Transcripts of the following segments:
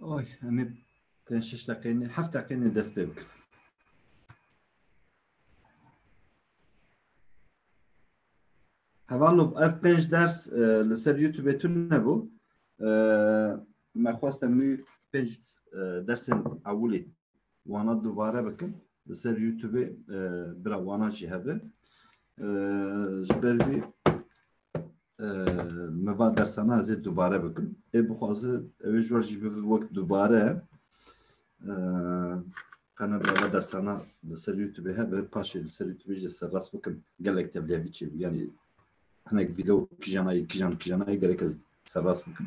Oy, em ê pênc şeş deqeyê heft deqeyê dest pê bikin. Hevalov ev pênc ders e, li ser YouTubeê tun nebû. E, Me xwestem wî pênc e, dersên ewilê wana dubare bikin li ser youtubê bira wana jî hebe ji ber vî me va dersana ez ê dubare bikin ê bixwazi ew ê ji wan jî bivi wek dubare qene bava dersana li ser youtubê hebe paşê li ser youtubê jî serrast bikin gelek tevliyevî çê bû yanî hinek vîdeo kijanayî kijan kijanayî gelek ez serrast bikin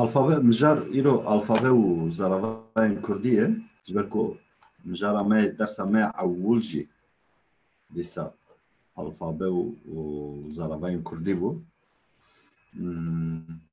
Alfabe mijar îro alfabe û zaravayên Kurdî ye ji ber ku mijara me dersa me ewil jî dîsa alfabe û zaravayên Kurdî bû.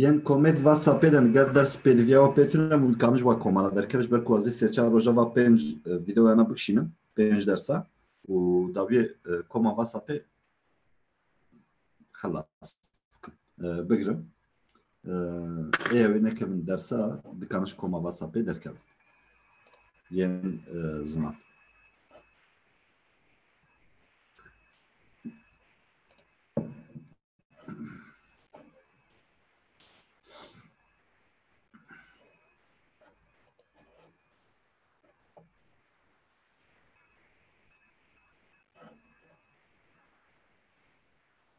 Yên komet va sapê de ger ders pê diviya wa pê tune mûl kanij wa komara derkeve ji ber ku ez ê sê çar roja va pênc vîdeoyana bikişînim pênc dersa û dawiyê koma va sapê xelas bigirim. Eya wê nekevin dersa dikaniş koma vasa pê derkevin. Yên ziman.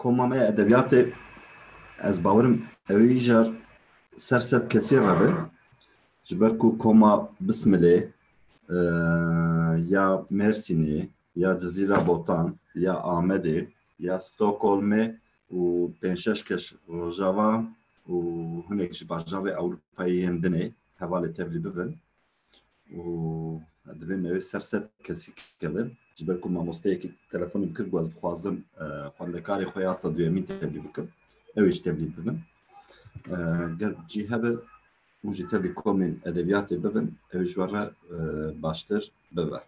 Koma me ya edebiyatê ez bawerim ewî jar ser sed kesî re be ji ber ku koma Bismilê ya Mêrsînê ya Cizîra Botan ya Amedê ya Stockholmê û pênc şeş kes Rojava û hinek ji bajarê Ewropayê yên din ê hevalê tevlî bibin û divê me wê ser set kesî kevin ji ber ku mamosteyekî telefonê min kir ku ez dixwazim xwendekarê xwe ya asta duyemîn tevlî bikim ewê ji tevlî bibin ger cî hebe û ji tevlî komên edebiyatê bibin ewê ji wan re baştir bibe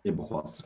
ê bixwazin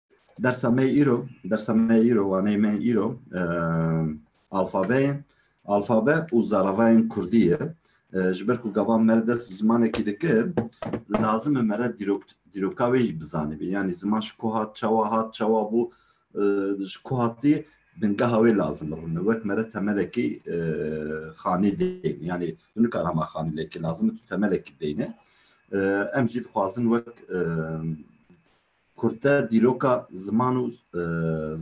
Dersa me îro, dersa me îro, waneyê me îro alfabeyên, alfabe û zaravayên Kurdî ye. Ji ber ku gavan me dest bi zimanekî dikir, lazim e me re dîrok dîroka wê jî bizanibî. Yanî ziman ji ku hat, çawa hat, çawa bû, ji ku hatî bingeha wê lazim e rûne. Wek me re temelekî xanî dêne. Yanî tu nikar hema xanî lêkî lazim e tu temelekî dêne. Em jî dixwazin wek Kurte dîroka ziman û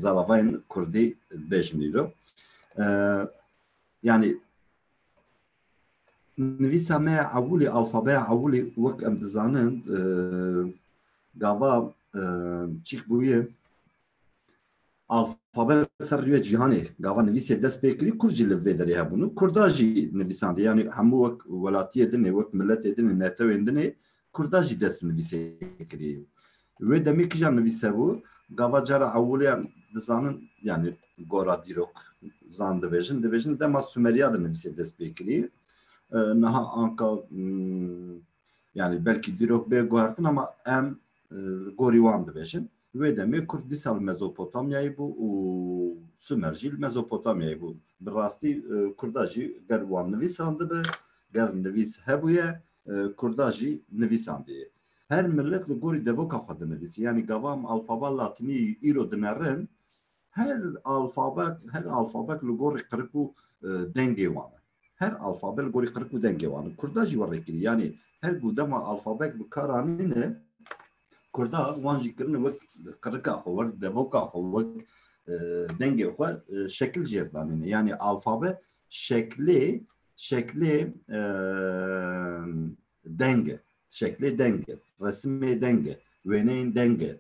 zaravayên kurdî bêjin îro. Yanî nivîsa me ya ewilî, alfabeya ewilî wek em dizanin gava çîk bûye Alfabet ser rûyê cîhanê gava nivîsê dest pê kirî, kurd jî li vê derê hebûn û kurda jî nivîsandê. Yanî hemû wek welatiyê din ê, wek miletê din ê, netewên din ê, kurda jî dest bi nivîsê kirî. Wê demê kija nivîs hebû, gava cara ewilê dizanin yanî gora dîrok zan dibêjin, dibêjin dema Sumeriya de nivîsê dest pê kirî. Niha anka Yani belkî dîrok bê guhertin ama em li gorî wan dibêjin. Wê demê Kurd dîsa li Mezopotamyayê bû û Sumer jî li Mezopotamyayê bû. Bi rastî Kurda jî ger wan nivîsandibe, ger nivîs hebûye, Kurda jî nivîsandiye. Her millet li gorî devoka xwe dinivîsî. Yanî gava em alfaba latinî îro dinerin, her alfabet, her alfabet li gorî qirik û dengê wan e. Her alfabe li gorî qirk û dengê wan in. Kurda jî were kirî. Yanî her ku dema alfabek bi kar anîne Kurda wan jî kirine wek qirika xwe, wek devoka xwe, wek dengê xwe şekil jêr danîne. Yanî alfabe şeklê şeklê deng e. Şeklê deng e. Resimê deng e. Wêneyên deng e.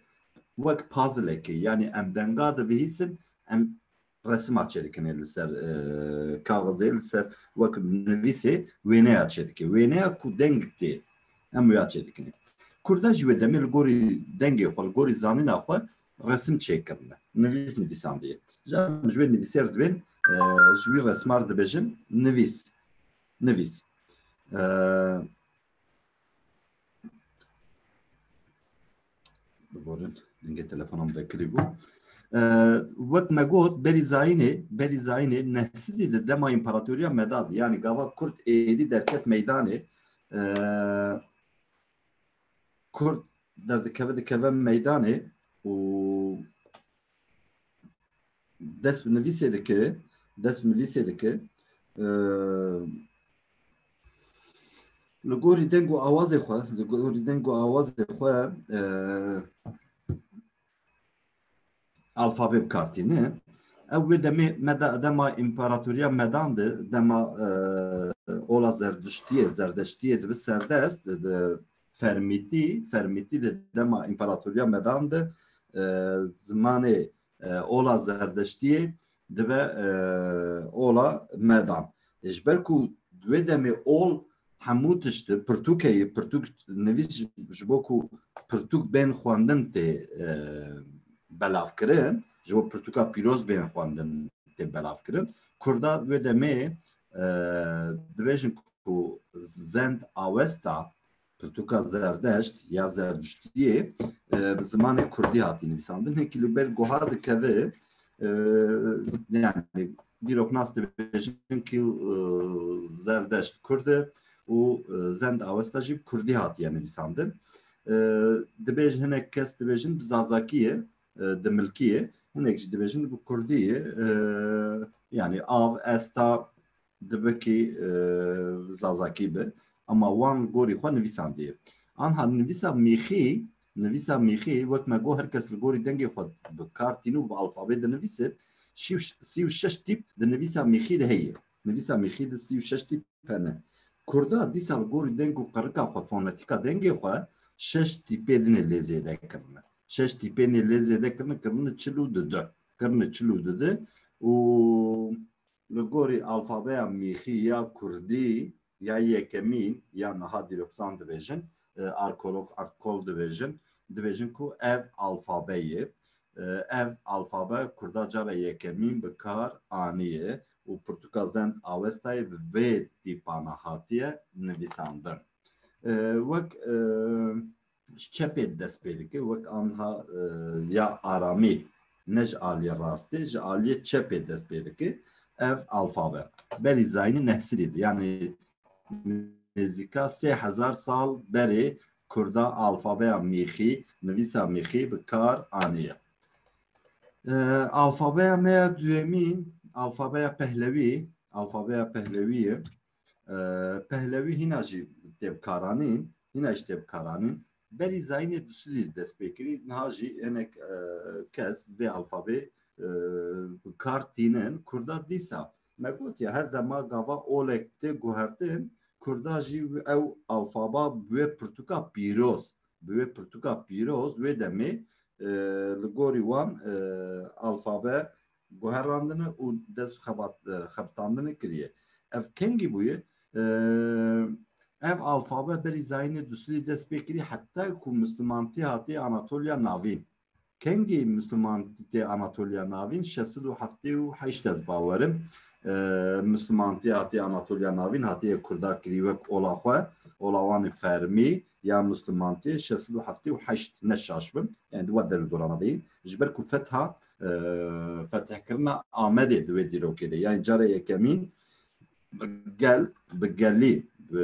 Wek pazilekê. Yanî em denga dibihîsin em resima çêdikinê li ser kaxizê li ser wek nivîsê wêneya çêdikê wêneya ku deng tê em ya çêdikinê Kurda ji wê demê li gorî dengê xwe li gorî zanîna xwe resim çêkirine nivîs nivîsandiye ji ji wê nivîsêr dibên ji wî resmar dibêjin nivîs nivîs Bigorin, dingê telefona min vekirî bû. Wek me got berî zayînê, berî zayînê nehsidî di dema împaratoriya meda di. Yanî gava Kurd êdî derket meydanê. Kurd derdikeve dikeve meydanê û Dest bi nivîsê dike, dest bi nivîsê dike. Li gorî deng û awazê xwe, li gorî deng û awazê xwe alfabê bi kar tîne. Ew wê demê meda dema împaratoriya medan de dema ola zerdiştiyê, zerdeştiyê dibi serdest di fermîtî, fermîtî de dema împaratoriya medan de zimanê ola zerdeştiyê dibe ola medan. Ji ber ku wê demê ol hemû tişti pirtûkeyê pirtûk nivîs ji bo ku pirtûk bên xwendin tê belavkirin ji bo pirtûka pîroz bên xwendin tê belavkirin kurda wê demê dibêjin ku zend awesta Pirtûka Zerdeşt ya Zerdiştiyê bi zimanê Kurdî hatî nivîsandin. Hêkî li ber goha dikeve yani dîrok nas dibêjin kî Zerdeşt Kurd e û Zend Awesta jî bi Kurdî hatiye nivîsandin. Dibêj hinek kes dibêjin bi Zazakî ye, di milkî ye, hinek jî dibêjin bi Kurdî ye. Yani av, esta, Dibikî Zazakî bi ama wan gorî xwe nivîsandiye. Anha nivîsa mîxî nivîsa mîxî wek me got her kes li gorî dengê xwe bi kar tîn û bi alfabê dinivîse sî û şeş tîp di nivîsa mîxî de heye. Nivîsa mîxî di sî û şeş tîp hene. Kurda dîsa li gorî deng û qerika xwe fonetîka dengê xwe şeş tîpê din ê lê zêde kirine. Şeş tîpê nê lê zêde kirine kirine çil û di du. Kirine çil û di du û Li gorî alfabeya mîxî ya kurdî ya yekemîn ya niha dîrokzan dibêjin, arkolog, artkol dibêjin, dibêjin ku ev alfabe ye. Ev alfabe kurda cara yekemîn bi kar aniye û Pirtûka Zend Awestayê bi vê tîpana hatiye nivîsandin. Wek. ji çepê dest pê dike wek anha ya aramî ne ji aliyê rastê ji aliyê çepê dest pê dike ev alfabe berî zaynî nehsirî di yanî nêzîka sê hezar sal berê kurda alfabeya mîxî nivîsa mîxî bi kar aniye alfabeya me ya duyemî alfabeya pehlewî alfabeya pehlewî ye pehlewî hîna jî têbkaranîn hîna jî tê bikaranîn. Berî zayînê bi Swîdîş dest pê kirî, niha jî hinek kes vê alfabê bi kar tînin. Kurda dîsa me gotiye her dema gava olek tê guhertin kurda jî ew alfaba bi wê pirtûka pîroz bi wê pirtûka pîroz wê demê li gorî wan alfabe guherandine û dest bi xebat xebitandinê kiriye. Ev kengî bûye ev alfabe berî zayînê duslî dest pê kirî heta ku mislimantî hatiye Anatoliya Navîn. Kengî mislimantî tê Anatoliya Navîn şeş sed û heftê û heşt ez bawer im. Mislimantî hatiye Anatoliya Navîn hatiye kurda kirî wek ola xwe, ola wan ê fermî, ya Musliman tê şeş sed û heftê û heşt ne şaş bin yani di we der û dorana de yên ji ber ku fetha fetihkirina Amedê di wê dîrokê de yani cara yekemîn bi gel bi gelî bi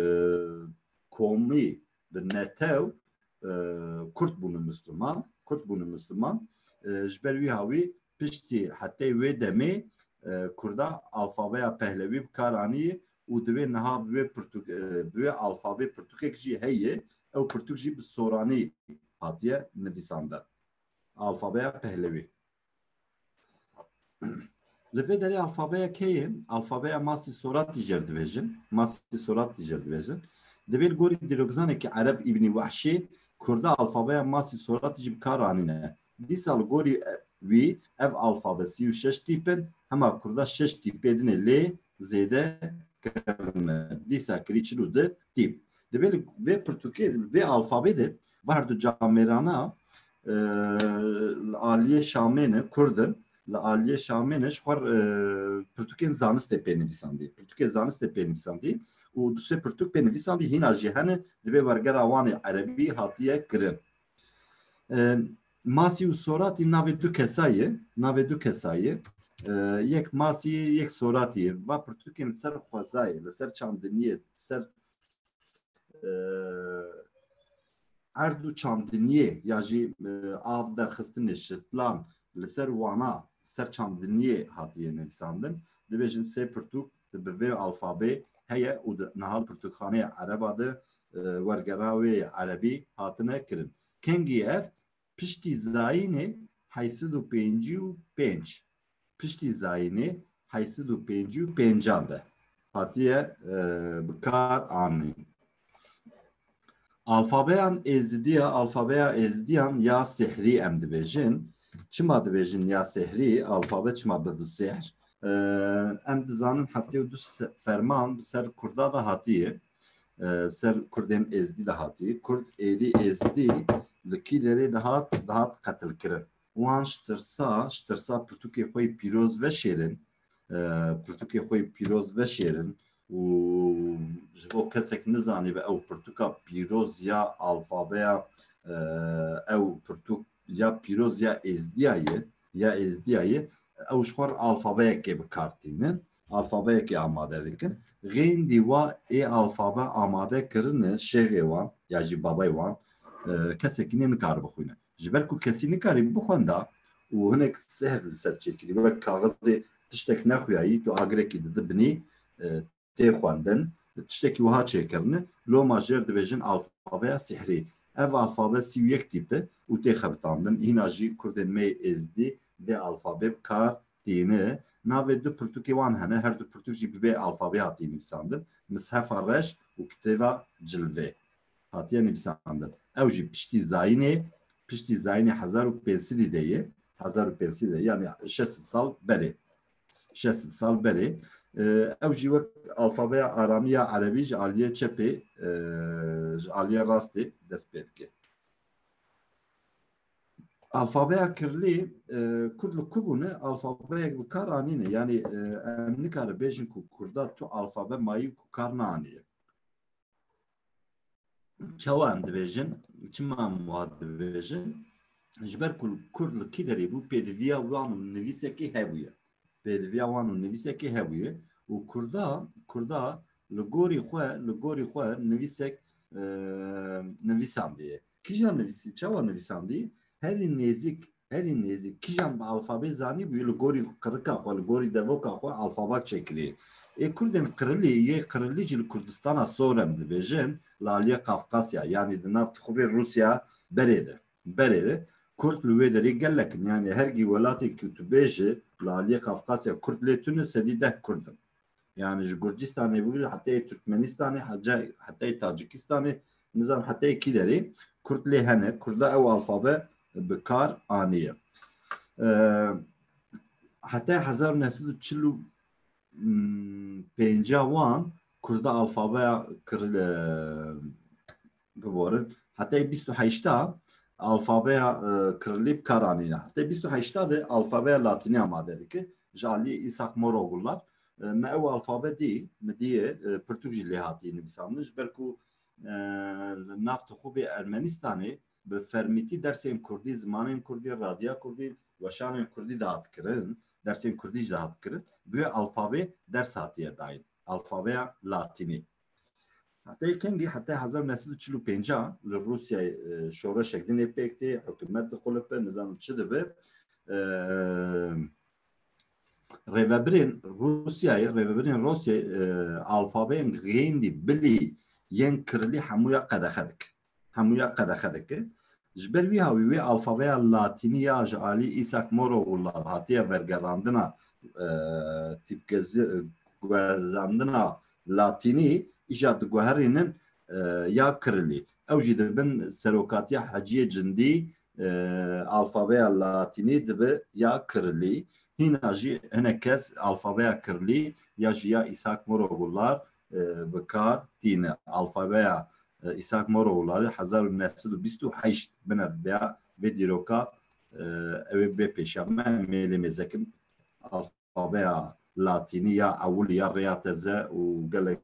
komî bi netew Kurd bûne Musliman Kurd bûne Musliman ji ber wî hawî piştî hetê wê demê Kurda alfabeya Pehlewî bi kar anî û divê niha bi wê pirtûk bi wê alfabê pirtûkek jî heye, ew pirtûk jî bi soranî hatiye nivîsandin, alfabeya pehlewî. Li vê derê alfabeya keyê, alfabeya masî soratî jê re dibêjin, masî soratî jê re dibêjin. Divê li gorî dîrokzanekî ereb Îbnî Wehşî, kurda alfabeya masî soratî jî bi kar anîne. Dîsa li gorî wî ev alfabe sî û şeş tîp in, hema kurda şeş tîpê din ê lê zêde kevin e. Dîsa kirî çil û du tîp. Divê li vê pirtûkê li vê alfabê de va her du camêrana li aliyê Şamê ne kurd in, li aliyê Şamê ne ji xwe pirtûkên zanistê pê nivîsandî. Pirtûkê zanistê pê nivîsandî û du sê pirtûk pê nivîsandî hîna jî hene di vê wergera wan ê erebî hatiye kirin. Masî û Soratî navê du kesa ye, navê du kesa ye. Yek Masî ye, yek Soratî ye. Va pirtûkên li ser xwezayê, li ser çandiniyê, li ser erd û çandiniyê ya jî av derxistinê şitlan li ser wana li ser çandiniyê hatiye nivîsandin. Dibêjin sê pirtûk di bi vê alfabê heye û di niha pirtûkxaneya ereba de wergera wê ya erebî hatine kirin. Kengî ev piştî zayînê heyt sed û pêncî û pênc piştî zayînê heyt sed û pêncî û pêncan de hatiye bi kar anîn. Alfabeyan Êzidiya, alfabeya Êzidiyan ya Sihrî em dibêjin. Çima dibêjin ya Sihrî, alfabe çima bi sihr? Em dizanin heftê û du ferman bi ser Kurda da hatiye. Bi ser Kurdên Êzidî da hatiye. Kurd êdî Êzidî li kî derê dihat, dihat qetilkirin. Wan ji tirsa, ji tirsa pirtûkê xwe yê pîroz veşêrin, pirtûkê xwe yê pîroz veşêrin û ji bo kesek nizanîbe ew pirtûka pîroz ya alfabeya ew pirtûk ya pîroz ya êzdîya ye ya êzdîya ye ew ji xwe alfabeyekê bi kar tînin alfabeyekê amade dikin xêndî wa ê alfabe amade kirine şêxê wan ya jî babey wan kesekî nê nikaribe xwîne ji ber ku kesî nikarî bixwenda û hinek zehr li ser çêkirî wek kaxizê tiştek nexuyayî tu agirekî didi binî tê xwendin bi tiştekî wiha çêkirine loma jêr dibêjin alfabeya sihrî ev alfabe sî û yek tîpe û tê xebitandin hîna jî kurdên me yê êzdî vê alfabê bi kar tîne navê du pirtûkê wan hene her du pirtûk jî bi vê alfabê hatî nivîsandin mishefa reş û kitêba cilvê hatiye nivîsandin. Ew jî piştî zayînê, piştî zayînê hezar û pênc sidî de ye, hezar û pênc sidî de yanî şeş sed sal berê, şeş sed sal berê. Ew jî wek alfabeya aramî ya erebî ji aliyê çepê ji aliyê rastê dest pê dike. Alfabeya kirlî kurd li ku bûne alfabeyek bi kar anîne yanî em nikare bêjin ku kurda tu alfabe mayî ku kar naanîye. Çawa em dibêjin, çima em wa dibêjin? Ji ber ku kur li kî derê bû pêdiviya wan û nivîsekê hebûye. Pêdiviya wan û nivîsekê hebûye û kurda kurda li gorî xwe li gorî xwe nivîsek nivîsandiye. Kîjan nivîsî, çawa nivîsandî, herî nêzîk, herî nêzîk kîjan bi alfabê zanîbûyî li gorî qirika xwe, li gorî devoka xwe alfaba çêkirî. Ê kurdên qirilî yê qirilî jî li Kurdistana Sorem dibêjin li aliyê Qafqasya yanî di nav tixûbê Rûsya berê de. Berê de kurd li wê derê gelek in. Yanî hergî welatê ku tu bêjî li aliyê Qafqasya kurd lê tune sedî deh kurd in. Yani ji Gurcistanê bû heteyê Türkmenistanê heteyê Tacikistanê nizan heteyê kî derê Kurd lê hene Kurda ew alfabe bi kar aniye. Heta 1945 wan Kurda alfabeya Guvorin, hetê bîst û heşta alfabeya Kirilî bi kar anîne. Hetê bîst û heşta de alfabeya Latînî amade dike. Ji aliyê Îsak Morogullar me ew alfabe dî, mi dîyê pirtûk jî lê hatî nivîsandin ji ber ku li nav tixûbê Ermenîstanê bi fermîtî dersên Kurdî, zimanên Kurdî, radiya Kurdî, weşanên Kurdî dihat kirin, dersên Kurdî jî dihat kirin. Bi wê alfabê ders hatiye dayîn. Alfabeya Latînî. Hatayê Kengî heta hezar û neh sed û çil û pênc a li Rûsyayê şoreşek dinê pêk tê, hikûmet dixulipe, nizanim çi dibe. Rêvebirên Rûsyayê, rêvebirên Rûsyayê alfabeyên Gêndî, Bilî yên Kirilî hemû ya qedexe dikin. hemûya qedexe dike. Ji ber wî havî wê alfabeya latînî ya ji alî Îsak Morogullan hatiye vergerandina tîpgezandina latînî îşa diguherînin ya kirilî. Ew jî dibin serokatiya Heciyê Cindî alfabeya latînî dibe ya kirilî. Hîna jî hinek kes alfabeya kirilî ya ji ya Îsak Morogullan bi kar tîne. Alfabeya Îshak Moro Wûlari hezar û neh sed û bîst û heşt bine vêya vê dîroka ew ê bê pêşiya me mêlê mêzekim alfabeya latînî ya ewilî ya rêya teze û gelek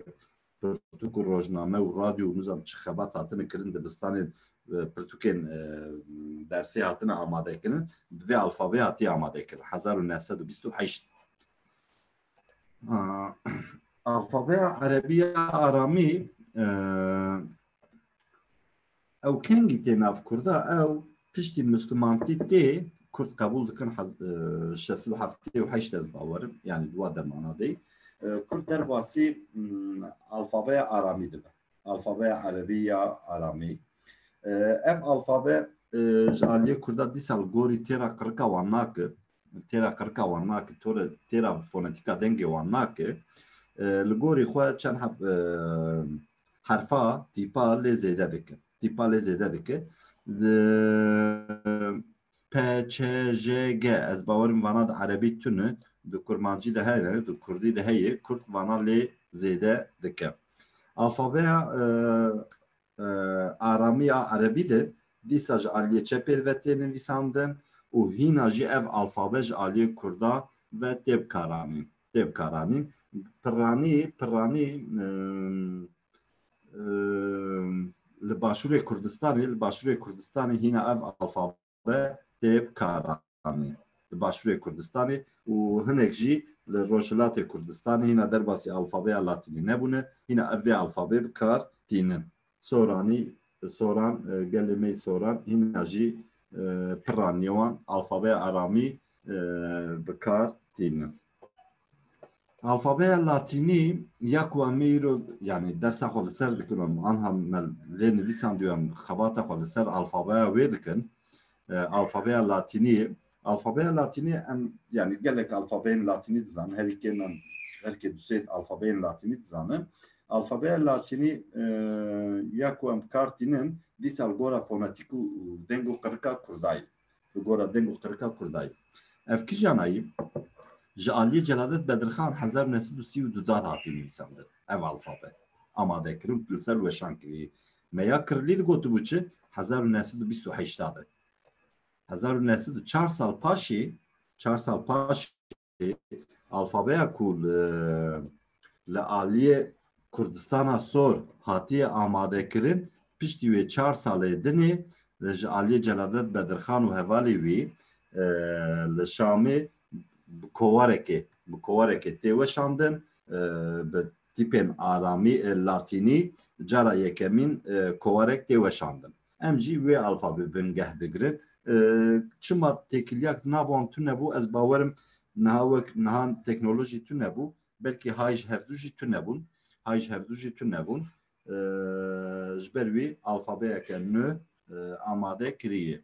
pirtûk û rojname û radyo û nizam çi xebat hatine kirin dibistanên pirtûkên dersê hatine amadekirin bi vê alfabeya hatî amadekirin hezar û neh sed û bîst û heşt Alfabeya Erebiya Aramî ew kengî tê nav Kurda ew piştî Müslümantî tê Kurd qebûl dikin şest û heftê û heşt ez bawerim yani dua demana dê Kurd derbasî alfabeya Aramî dibe alfabeya Erebî ya Aramî ev alfabe ji aliyê Kurda dîsal gorî têra qirika wan nake têra qirika wan nake têra fonetîka dengê wan nake li gorî xwe çend heb herfa tîpa lê zêde dike tîpa lê zêde dike P, Ç, J, G ez bawerim vana di erebî tune di kurmancî de heye di kurdî de heye kurd vana lê zêde dike alfabeya aramiya erebî de dîsa ji aliyê çepê ve tê nivîsandin û hîna jî ev alfabe ji aliyê kurda ve tê bikaranîn tê bikaranîn pirranî pirranî li başûrê kurdistanê li başûrê kurdistanê hîna ev alfabe be tê karanê li Başûrê Kurdistanê û hinek jî li Rojhilatê Kurdistanê hîna derbasî alfabeya Latînî nebûne, hîna ev vê alfabê bi kar tînin. Soranî, Soran, gelê me yî Soran, hîna jî piranî wan alfabeya Aramî bi kar tînin. Alfabeya Latînî ya ku em îro yanî dersa xwe li ser dikin û anha me lê nivîsandiyo em xebata xwe li ser alfabeya wê dikin. Alfabeya Latînî alfabeya Latînî em yanî gelek alfabeyên Latînî dizanin herî kêm em herkê dusê alfabeyên Latînî dizanin. Alfabeya Latînî ya ku em kar tînin dîsal gora fonetîk û deng û qirika Kurdayî. bi gora deng û qirika kurdayî. Ev kijanayî ji aliyê Celadet Bedirxan hezar û neh sed û sî û du dad hatî nivîsandin. Ev alfabe amade kirin ku li ser weşan kirî. Meya Kirilî digotibû çi? Hezar û neh sed û bîst û heşt dad e. Hezar û neh sed û çar sal paşê, çar sal paşê Alfabeya ku li aliyê Kurdistana Sor hatiye amadekirin piştî wê çar salê dinê ji aliyê Celadet Bedirxan û hevalê wî li Şamê bi kowarekê bi kowarekê tê weşandin bi tîpên aramî latînî cara yekemîn kowarek tê weşandin. Em jî wê alfabê bingeh digirin. Çima têkilyak nav wan tune bû ez bawer im niha wek niha teknolojî tune bû belkî hay ji hevdu jî tune bûn hay ji hevdu jî tune bûn ji ber wî alfabeyeke nû amade kirîyê.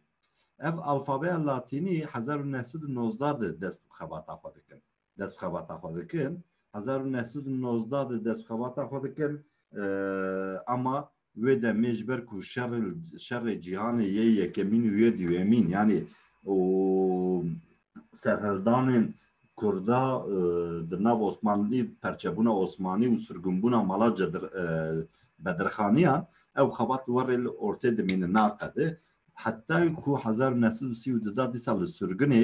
Ev alfabeya latînî hezar û neh sed û nozdeh di dest bi xebata xwe dikin. destbixebata xwe dikin hezar û neh sed û nozdeh de destbixebata xwe dikin ama wê demê ji ber ku şerê cîhanê yê yekemîn û yê duyemîn yanî û serhildanên Kurda di nav Osmanlî perçebûna Osmanî û sirgunbûna mala bedirxaniyan ew xebat li werê li ortê dimîne naqede heta ku hezar û neh sed û sî û du da dîsa li sirgunê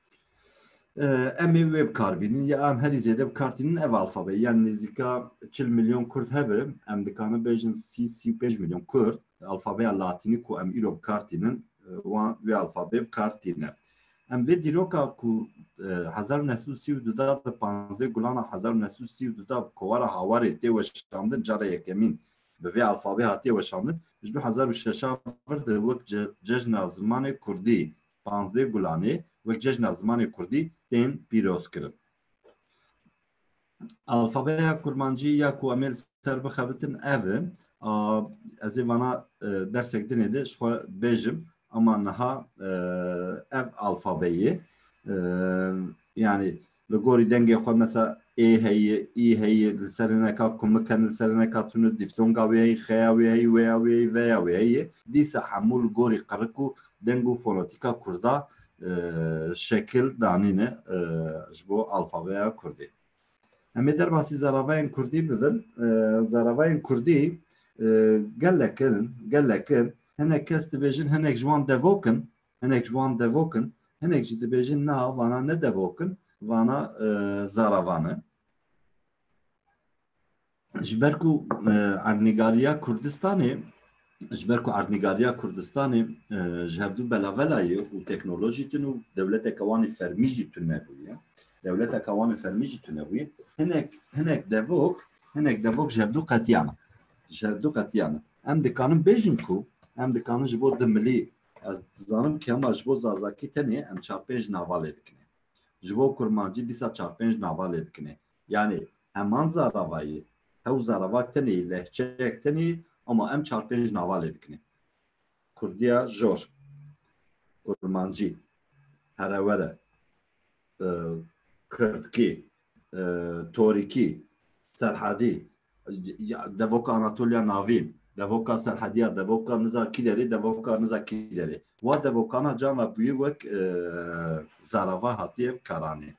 Em ê wê bikar bînin ya em herî zêde bikartînin ev alfabe yan nêzîka çil milyon kurd hebe em dikarin bêjin sî sî û pênc milyon kurd alfabeya latînî ku em îro bikartînin wan wê alfabê bikartîne. Em vê dîroka ku hezar û neh sed û sî û du da bi panzdeh gulana hezar û neh sed û sî û du da bi kovara hawarê tê weşandin cara yekemîn bi vê alfabê hatiye weşandin ji du hezar û şeş a vir de wek cejna zimanê kurdî Panzdeh Gulanê wek cejna zimanê kurdî tên pîrozkirin. Alfabeya kurmancî ya ku em ê li ser bixebitin ev e. Ez ê vana dersek dinê de ji xwe bêjim ama niha ev alfabeyê yanî Li gorî dengê xwe mesa ê heye, î heye, li sereneka kumik hene, li sereneka tune dîftonga wê heye, xeya wê heye, wêya wê heye, veya wê heye. Dîsa hemû li gorî qirik û deng û fonetîka kurda şekil danîne ji bo alfabeya kurdî. Em ê derbasî zaravayên kurdî bibin. Zaravayên kurdî gelek in, gelek in. Hinek kes dibêjin hinek ji wan devok in, Hinek ji wan devok in, hinek jî dibêjin na vana ne devok in, vana zaravan in. Ji ber ku erdnîgariya Kurdistanê ji ber ku erdnîgariya Kurdistanê ji hevdû belavelayê û teknolojî tune û dewleteke wan ê fermî jî tune bûye. Dewleteke wan ê fermî jî tune bûye. Hinek hinek devok, hinek devok ji hevdû qetiyan. Ji hevdû qetiyan. Em dikarin bêjin ku em dikarin ji bo di milî Ez dizanim kema ji bo Zazakî tenê em çar pênc nava lê dikinê. Ji bo Kurmancî dîsa çar pênc nava lê dikinê. Yanî heman zaravayî, hew zaravak tenê, lehçeyek tenê ama em çar pênc nava lê dikinê. Kurdiya jor, Kurmancî, herewere, Kirdkî, Torîkî, Serhedî, devoka Anatoliya Navîn, devoka Serhediya, devoka niza kîderê, devoka niza kîderê. Wa devokana cana bûyî wek zarava hatiye karanê.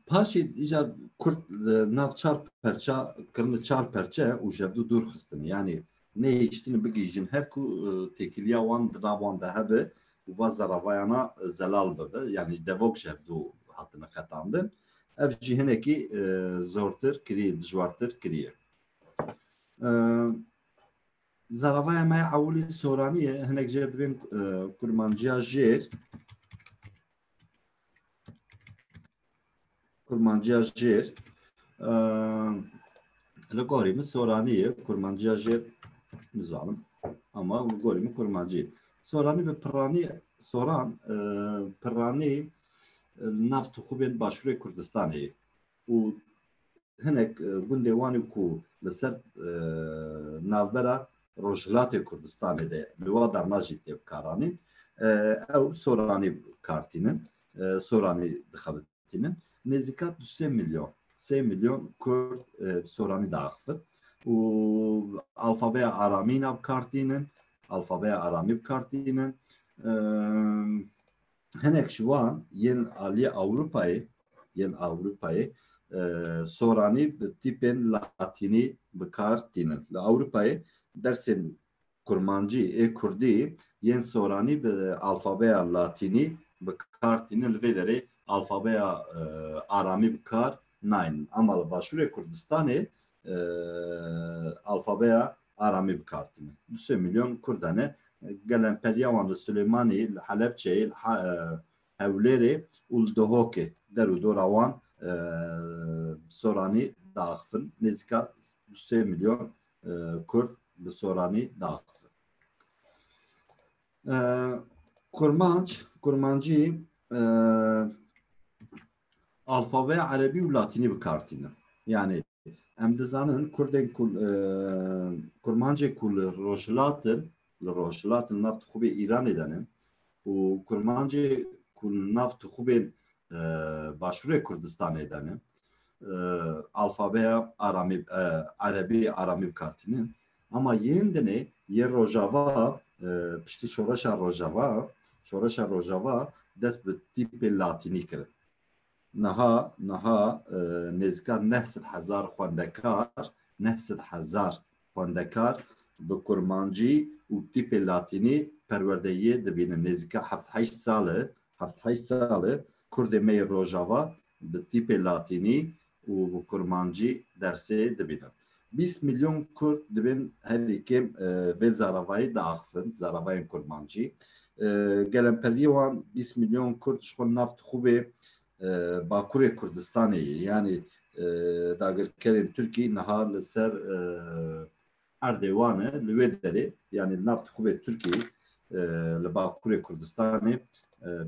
Paşê îca Kurd li nav çar perça kirine çar perçe û jevdû dûr xistinê. Yanî nehêştin bigihîjin hev ku têkiliya wan di nav wan de hebe û va zeravayana zelal bibe yanî devok ji hev zû hatine qetandin ev jî hinekî zortir kirî dijwartir kiriye. Zaravaya me ewilî soranî ye hinek jê dibên kurmanciya jêr Kurmanciya jêr li gorî min soranî ye kurmanciya jêr nizanim ama li gorî min kurmancî ye. Soranî bi piranî soran piranî li nav tixûbên başûrê Kurdistanê ye. û hinek gundê wan ê ku li ser navbera Rojhilatê Kurdistanê de li wa derna jî tê bikaranîn ew soranî kartînin, soranî dixebitînin. Nêzîka du sê milyon sê milyon Kurd bi soranî diaxivin û alfabeya aramîna bikartînin, alfabeya aramî bikartînin. hinek ji wan yên aliyê Ewropayê yên Ewropayê soranî bi tîpên latînî bi kar tînin. Li Ewropayê dersên kurmancî ê kurdî yên soranî bi alfabeya latînî bi kar tînin li vê derê alfabeya aramî bi kar naynin. Ama li Başûrê Kurdistanê alfabeya aramî bikartîne. Du sê milyon Kurda ne. Gelemperîya wan li Silêmanî, li Helepçeyê, li Hewlêrê û li Duhokê der û dora wan Soranî diaxivin. Nêzîka du sê milyon Kurd bi Soranî diaxivin. Kurmanc, kurmancî alfabeya erebî û latînî bi kar tîne. Yanî em dizanin Kurdên ku Kurmancê ku li rojhilatin li rojhilatin nav tixûbê Îranê de ne û Kurmancê ku nav tixûbên başûrê Kurdistanê de ne alfabeya aramî erebî aramî bi kar tîne. Ama yên dinê yê Rojava piştî şoreşa Rojava şoreşa Rojava dest bi tîpê latînî kirin. Niha niha nêzika neh sed hezar xwendekar neh sed hezar xwendekar bi kurmancî û tîpê latînî perwerdeyê dibînin. Nêzika heft heşt sal e heft heşt sal e kurdê me yê Rojava bi tîpê latînî û bi kurmancî dersê dibînin. Bîst milyon kurd dibên herî kêm vê zaravayî diaxivin, zaravayên kurmancî. Gelemperiyê wan bîst milyon kurd ji xwe nav dixwibê Bakurê Kurdistanê yê. Yanî dagirkerên Tirkî niha li ser erdê wan e li wê derê yanî li nav tixûbê Tirkiyê li Bakurê Kurdistanê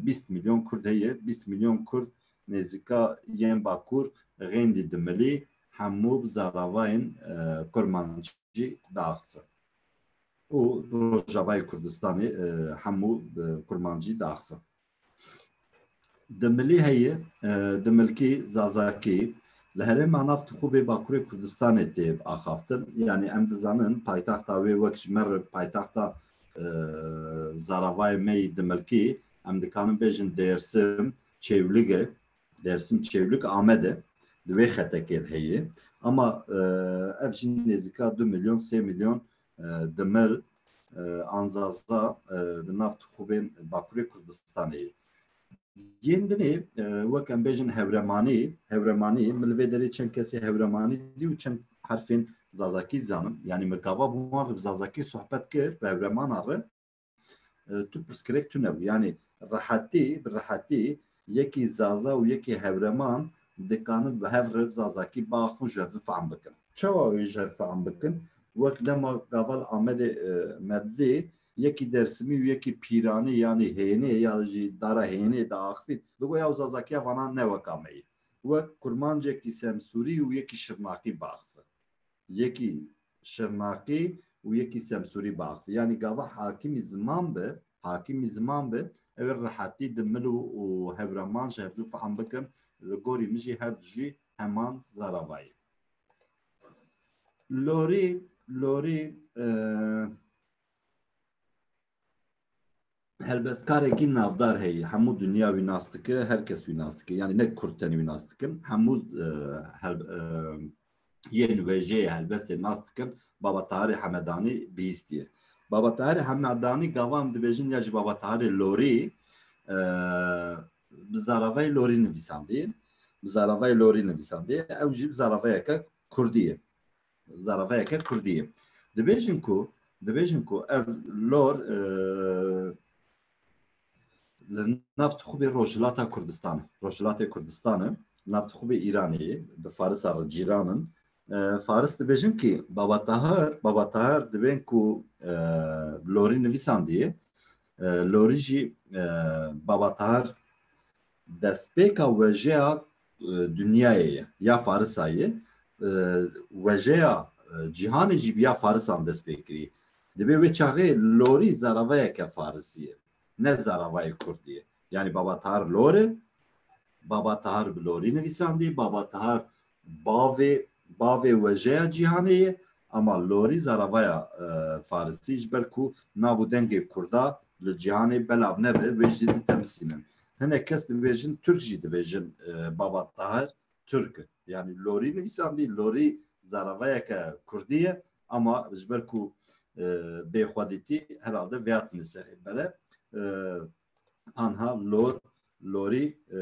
bîst milyon Kurd heye. Bîst milyon Kurd nêzîka yên Bakur xêndî dimilî hemû bi zaravayên kurmancî diaxivin û Rojavayê Kurdistanê hemû bi kurmancî diaxivin. Di milî heyê di milkî Zazakî li herêma nav Tixûvê Bakurê Kurdistanê tê axaftin. Yanî em dizanin paytexta wê wek ji me re paytexta e, zaravayê me yî di milkî em dikarin bêjin Dêrsim Çêwlig e. Dêrsim Çêwlig Amed e. Di wê xetekê de heye. Ama e, ev jî nêzîka du milyon sê milyon dimir, anzaza di nav tixûbên Bakurê Kurdistanê ye. Yên dinê wek em bêjin hewremanî, hewremanî min li vê derê çend kesê hewremanî dî û çend herfên zazakî zanim. Yanî min gava bi wan re bi zazakî sohbet kir bi hewremana re. Tu pirsgirêk tune bû. Yanî rehetî bi rehetî yekî zaza û yekî hewreman dikanin bi hev re zazakî biaxivin ji hev ve fehm bikin. Çawa wê ji hev fehm bikin? Wek dema gaval Amedê Mebzê yekî Dersimî û yekî Pîranê yanî Hênê ya jî dara Hênê de axivîn digo ya zazakiya vanan ne weka me yê. Wek kurmancekî Semsûrî û yekî Şirnaqî biaxivin. yekî Şirnaqî û yekî Semsûrî biaxivî. Yanî gava hakimî ziman bi, hakimî ziman bi ew ê rehetî di mil û hewreman ji hevdu fehm bikin. Li gorî min jî herdu jî heman zarava ye. Lorî lorî helbestkarekî navdar heye hemû dinya wî nas dike her kes wî nas dike yanî ne kurd tenê wî nas dikin hemû yên wêjeyê helbestê nas dikin baba Taharê Hemedanî bihîstiye baba Taharê Hemedanî gavan dibêjin ya ji baba Taharê Lorî bi zaravayê Lorî nivîsandiye bi zaravayê Lorî nivîsandiye ew jî bi zaravayeke kurdî ye zarafeyeke kurdî ye. Dibêjin ku dibêjin ku ev lor e, li nav dixubê Rojhilata Kurdistan e. Rojhilatê Kurdistan e, nav dixubê Îranê ye, di Farisa re cîran in. E, Faris dibêjin kî Baba Tahir, Baba Tahir dibên ku e, lorî nivîsandiye, Lorî jî Baba Tahir destpêka wejeya dinyayê ye ya Farisa ye. Wejeya cîhanê jî bi ya Farisan dest pê kirî. Dibê wê çaxê Lorî zaravayeke Farisî ye. Ne zaravayê Kurdî ye. Yanî Baba Tahir Lor e. Baba Tahir bi Lorî nivîsandî. Baba Tahir Bavê bavê wejeya cîhanê ye ama lorî zaravaya farisî ji ber ku nav û dengê kurda li cîhanê belav nebe wê jî ditemsînin. Hinek kes dibêjin turk jî dibêjin baba Tahir turk e. Yanî lorî nivîsandî lorî zaravayeke kurdî ye ama ji ber ku bêxwedîtî herhalde vêhatine serê bere. anha lor lorî e,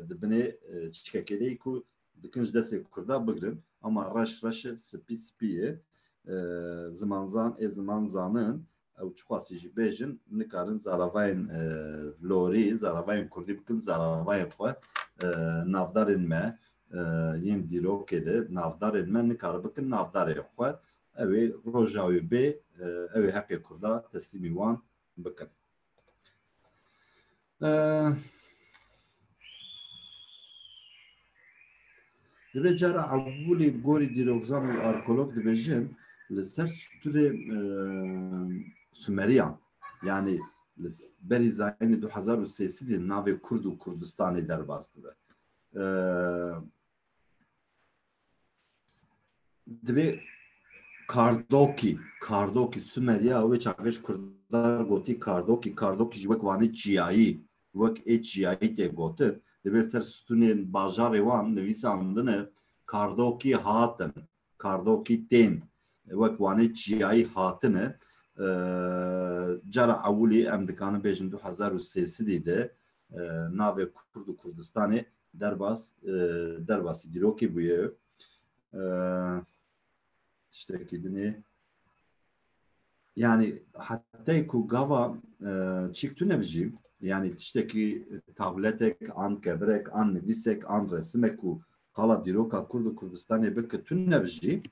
di binê e, çikekê de ku dikin ji destê kurda bigirin ama reş reş e spî spî ye E, zimanzan ê ziman zanin ew çixwasî jî bêjin nikarin zaravayên e, lorî zaravayên kurdî bikin zaravayên xwe e, navdarên me e, yên dîrokê de navdarên me nikari bikin navdarên xwe ew ê roja wê bê e, ew ê heqê kurda teslîmî wan bikin. Divê cara evulê gorî dîrokzan û arkolog dibêjin li ser stûrê Sumeriyan yani li berî zayînê du hezar û sê sedî navê Kurd û Kurdistanê derbas dibe. Dibê kardokî, kardokî Sumerya wê çaxê ji Kurdan gotî kardokî, kardokî jî wek vanê çiyayî, wek ê çiyayî tê gotin. Dibê li ser stûnên bajarê wan nivîsandine kardokî hatin, kardokî tên. Wek wanê çiyayî hatine. Cara ewilî em dikanin bêjin du hezar û sêsidî de navê Kurd û Kurdistanê Derbas, derbasî dîrokê bûye. Tiştekî dinê. Yani hatta ku gava çik tu nebijî, yani tiştekî tabletek an kevirek an nivîsek an resimek û qala dîroka Kurd û Kurdistanê bi ki tu nebijî,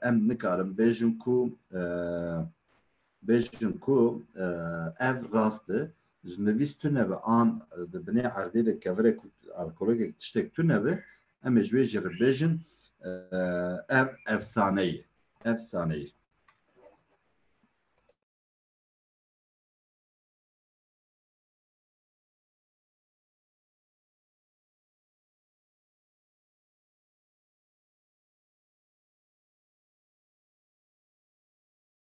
em nikarin bêjin ku Bêjin ku ev rast e, ji nivîs tune be an di binê erdê de kevirek û alkologek tiştek tune be, em ê ji wê jî re bêjin ev efsane ye. Efsane ye.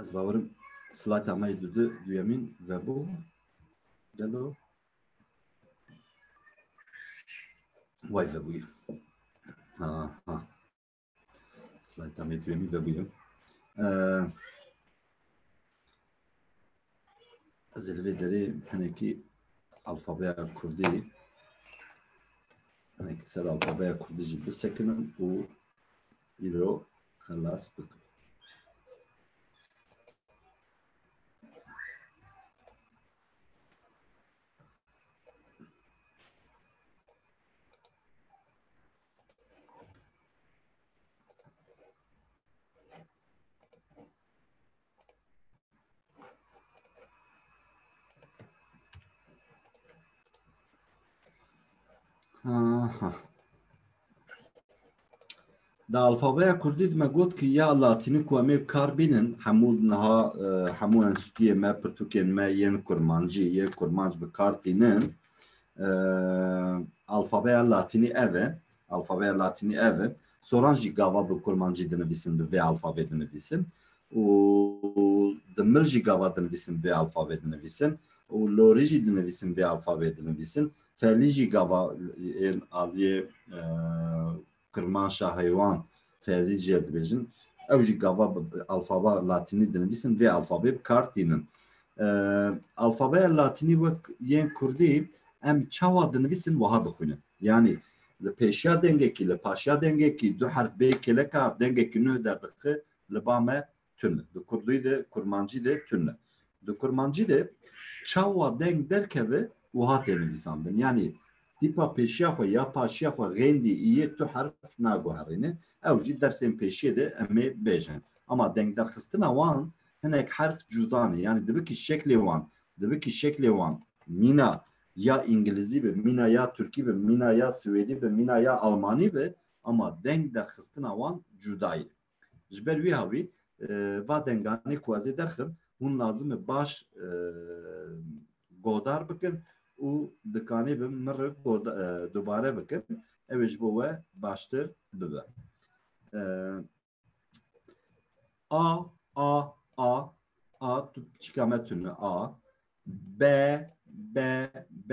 Ez bawerim slajda me yê dudu duyemîn vebû. Gelo way vebûye. Ha ha. Slajda me yê duyemîn vebûye. Ee, Ez ê li vê derê hinekî alfabeya Kurdî hinekî ser alfabeya Kurdî jî bisekinim û Îro xelas bikin. Aha. Di alfabeya Kurdî me got ki ya Latînî ku em ê kar bînin hemû niha e, hemû enstîtiyê me pirtûkên me yên kurmancî yê kurmanc bi kar tînin. E, alfabeya Latînî ev e. Alfabeya Latînî ev e. Soran jî gava bi kurmancî dinivîsin bi vê alfabê dinivîsin û di mil jî gava dinivîsin bi vê alfabê dinivîsin û lorî jî dinivîsin vê alfabê dinivîsin. Felî jî gava ên aliyê kirmanşa heywan ferdî jê ve dibêjin. Ew jî gava alfaba latînî dinivîsin vê alfabê bi kar tînin. Alfabeya latînî wek yên kurdî em çawa dinivîsin wiha dixwînin. Yanî li pêşiya dengekî li paşiya dengekî du herf bê kêleka dengekî nuh derdixi li ba me tune. Di kurdî de, kurmancî de tune. Di kurmancî de çawa deng derkeve wiha tê nivîsandin. Yanî tîpa pêşiya xwe ya paşiya xwe xêndî îyê tu herf naguherîne. Ew jî dersên pêşiyê de em ê bêjin. Ama dengderxistina wan hinek herf cuda ne. Yanî dibikî şeklê wan, dibikî şeklê wan mîna ya îngilizî be, mîna ya tirkî be, mîna ya siwêdî be, mîna ya almanî be ama deng derxistina wan cuda ye. Ji ber wî havî va denganê ku ez ê derxim hûn lazim e baş godar bikin û dikanê bi min re dubare bikin ew ê ji bo we baştir bibe. A A A A tu çika me tune A B B B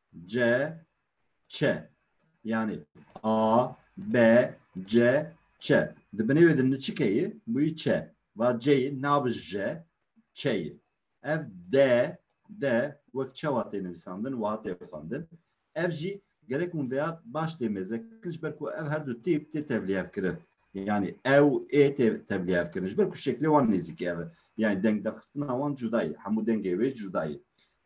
C, Ç. Yani A, B, C, Ç. Di binê wê din çi keyê? Bûyî Ç. Va C'yê nabi J, Ç'yê. Ev D, D wek çawa tê nivîsandin wiha tê xwendin. Ev jî gerek hûn vêya baş tê mêzekin ji ber ku ev her du tîp tê tevlîhevkirin. Yani ew ê tê tevlîhevkirin ji ber ku şeklê wan nêzîkî ev e. Yani deng derxistina wan cuda ye. Hemû dengê wê cuda ye.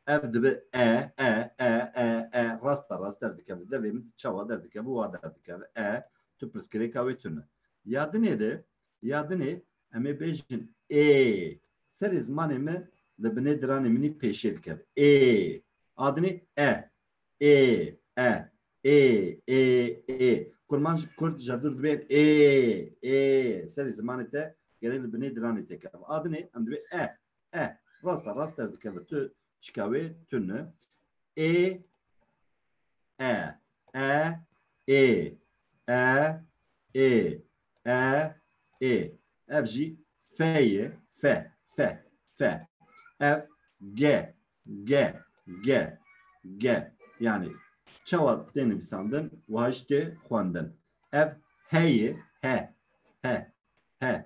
Ev dibe e e e e e rasta rast derdikeve. Devê min çawa derdikeve wa derdikeve. E tu pirsgirêka wê tune. Ya dinê de ya dinê em ê bêjin ê serê zimanê min li binê diranê min pêşê dikeve. Ê a dinê e ê e ê ê ê kurman ji kurd jevdur dibên ê ê serê zimanê te gelê li binê diranê te keve. A dinê em dibê e E. Rasta rast derdikeve tu çika wê tune. E. E. E. E. E. E. E. E. Ev jî feye. Fe. Fe. Fe. Ev ge. Ge. Ge. Ge. Yani çawa tê nivîsandin wiha jî tê xwendin. Ev heye. He. He. He.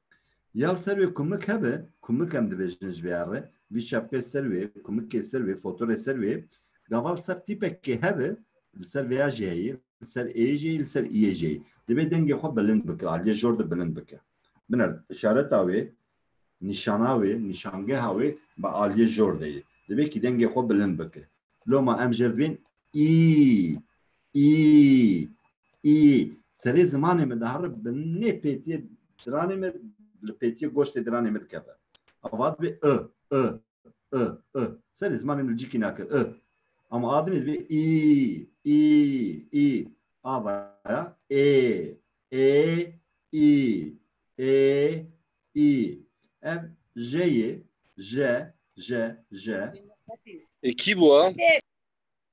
Ya li ser wê kumik hebe, kumik em dibêjin ji vê re, vî şepqê ser wê, kumikê ser wê, fotorê ser wê, gava li ser tîpekê hebe, li ser vêya jê heye, li ser ê jê, li ser iyê jê. Divê dengê xwe bilind bike, aliyê jor de bilind bike. Biner, işareta wê, nîşana wê, nîşangeha wê bi aliyê jor de ye. Divê kî dengê xwe bilind bike. Loma em jêr dibên î, î, ii, Serê zimanê min dihare bi nê pêtiyê diranê min li pêtiyê goştê diranê min dikeve. Ava dibê i, i, i, i. Serê zimanê min li cîkî nake i. Ama a dinê dibê ii, ii, ii. Ava ya ê, ê, ii, ê, ii. Ev jeyê, je, je, je. E, kî bû e?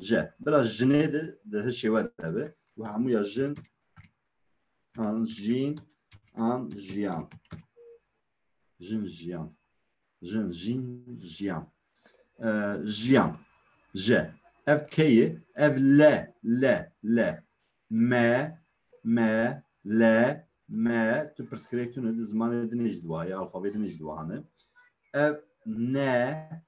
je. Bila ji cinê de di hi şêwe de be û hemû ya jin an jîn an jiyan. Jin jiyan. Jin jîn jiyan. Jiyan. Je. Ev keyê ev le le le me me le me tu pirsgirêk tune di zimanê dinê ji duwa ya alfabê dinê ji duwa hane ev ne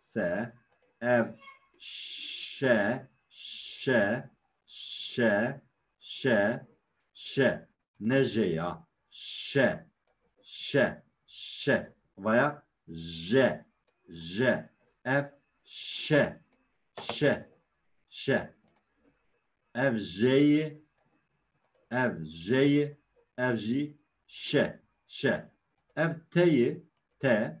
se ev şe şe şe şe şe ne je ya şe şe şe vaya je je ev şe şe şe ev jeyi ev jeyi ev jî şe şe ev teyi te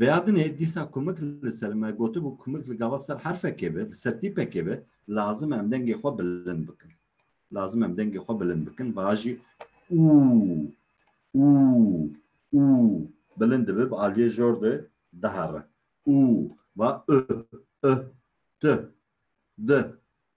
Vêyadinê dîsa kumik li ser me gotibû kumik li gava ser herfekê be, li ser tîpekê be, lazim e em dengê xwe bilind bikin. Lazim e em dengê xwe bilind bikin, vajî û û û bilind dibe bi aliyê jor de dihere. Û va ı, ı, tı, dı,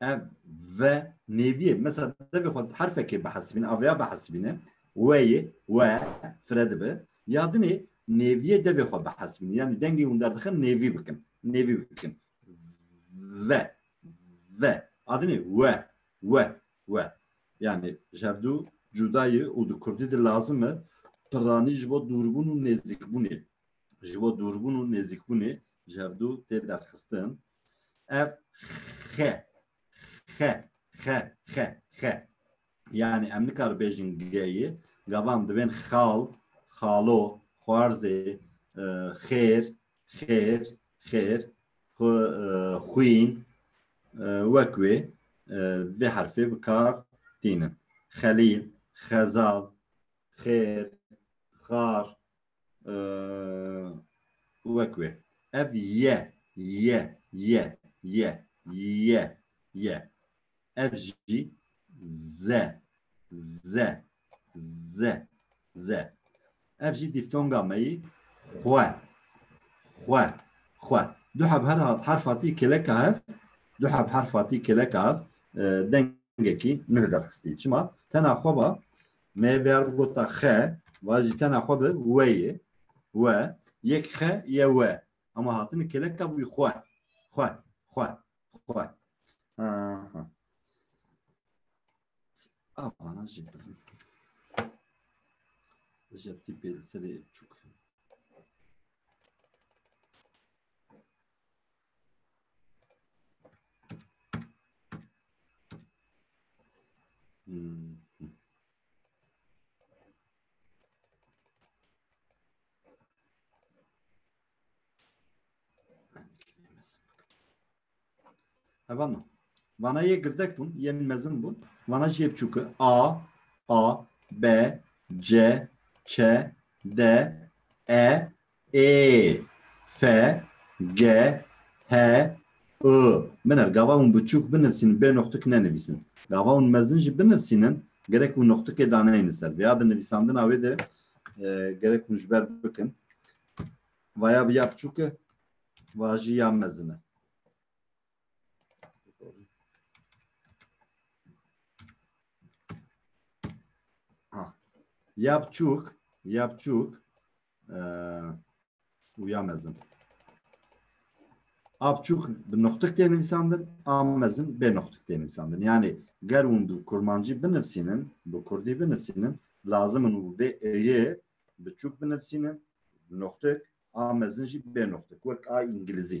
ev ve nêviyê mesela devê xwe herfekê bihesibîne aveya bihesibîne weyê we fire dibe ya dinê nêviyê devê xwe bihesibîne yanî dengê hûn derdixin nêvî bikin nêvî bikin ve ve adinê we we we yanî ji hev dû cudayê û di kurdî de lazim e piranî ji bo dûrbûn û nêzîkbûnê ji bo dûrbûn û nêzîkbûnê ji hev dû tê derxistin Ev xe xe xe xe xe yani em nikar bêjin geyê gavan dibên xal xalo xwarzê xêr xêr xêr xwîn wek wê vê herfê bi kar tînin xelîl xezal xêr xar wek wê. Ev ye, ye, ye, ye, ye, ye. Ev jî ze, ze, ze, ze. Ev jî dîftonga me yî xwe, xwe, xwe. Du heb her herfa tî kileka hev, du heb herfa tî kileka hev dengekî nuh derxistî. Çima? Tena xwe ba Me ver bi gota xe, vajî tena xwe bi we yê. We, yek xe ye we. Ama hatini keleka bûyî xwe. Xwe, xwe, xwe. Aha. Avana jî bivin. Jeptî pê li serê çûk. Hemen Vana ye girdek bun, yen mezin bun. Vana jê bçûke. A, A, B, C, Ç, D, E, Ê, fe, ge, he, ı. Biner, gava hûn biçûk binivîsînin bê noxtik nenivîsin. Gava hûn mezin jî binivîsînin gerek hûn noxtikê daneyên li ser. Vêya di nivîsandina wê de gerek hûn ji ber bikin. Vaya bi ya biçûk e, va jî ya mezin e. Yapçuk, yapçuk û ya mezin. A biçûk bi noxtik tê nivîsandin, a mezin bê noxtik tê nivîsandin. Yanê ger hûn bi kurmancî binivîsînin, bi kurdî binivîsînin, lazim in û vê êyê biçûk binivîsînin, noxtik, a mezin jî bê noxtik, wek a îngilîzî.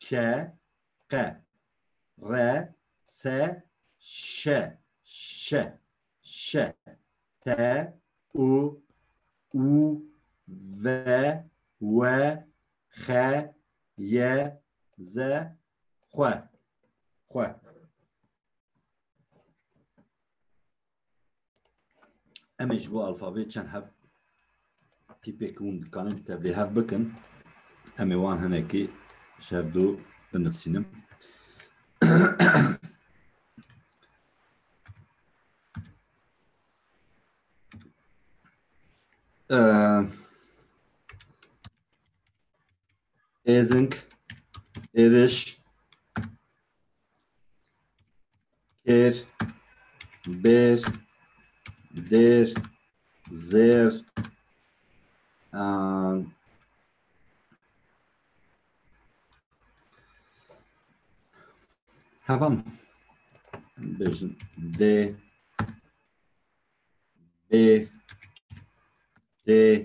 ke, qe, re, se, şe, şe, şe, te, u, u, ve, we, xe, ye, ze, xwe, xwe. Em ê ji bo alfabê çend hev tîpek hûn dikanin tevlê hev bikin. Em ê wan hinekî ji hev dû binivîsînim. Êzing, êriş, kêr, bêr, dêr, zêr, an, hevan bêjin dê, bê, dê,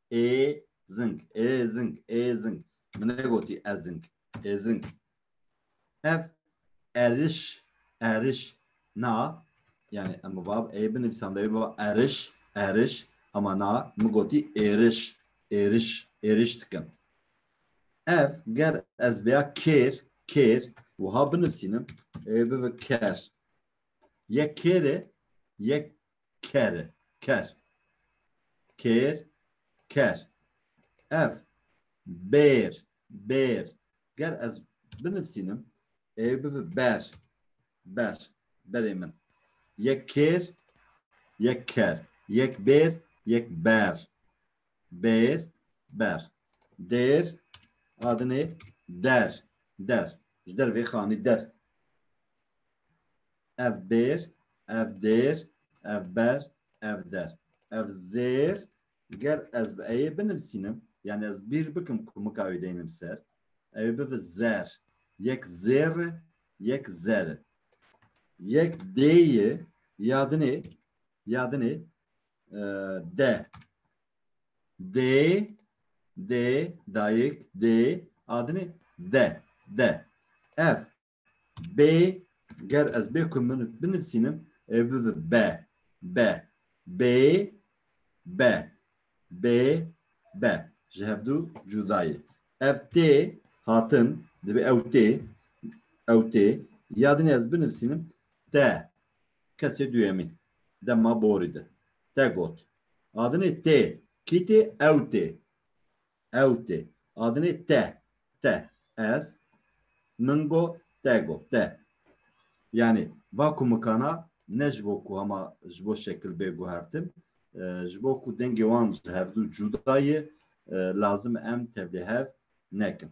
ê zing ê zing ê zing min negotî ez zing ê zing ev eriş eriş na yani em bi vav ê binivîsan devê biva eriş eriş ama na min gotî êriş êriş êriş dikim ev ger ez veya kêr kêr wiha binivîsînim ê bivi ker yek kêrê yek ker e. Ker. Kêr, ker. Ev bêr, bêr. Ger ez binivîsînim ê bivi ber, ber. Berê min. Yek kêr, yek ker. Yek bêr, yek ber. Bêr, ber. Dêr, adinê der, der. Ji der vê xanî der. ev bêr, ev dêr, ev ber, ev der, ev zêr ger ez bi eyê binivîsînim yani ez bîr bikim ku mika wî deynim ser ew bivi zer yek zêr yek zer yek dêyê yadinê yadinê e, de dê dê dayik dê adinê de de ev Bê ger ez bê ku min binivîsînim ê bibi be be bê be bê be ji hevdû cuda ye. Ev tê hatin divê ew tê ew tê ya dinê ez binivîsînim te kesê duyemîn dema borî de te got. Adinê tê kî tê ew tê Ew tê. Adinê te. Te. Ez. Min go. Te go. Te. Yanî va kumikana ne ji bo ku hema ji bo şekil bê guhertin, ji bo ku dengê wan ji hevdû cuda ye, lazim e em tevlîhev nekin.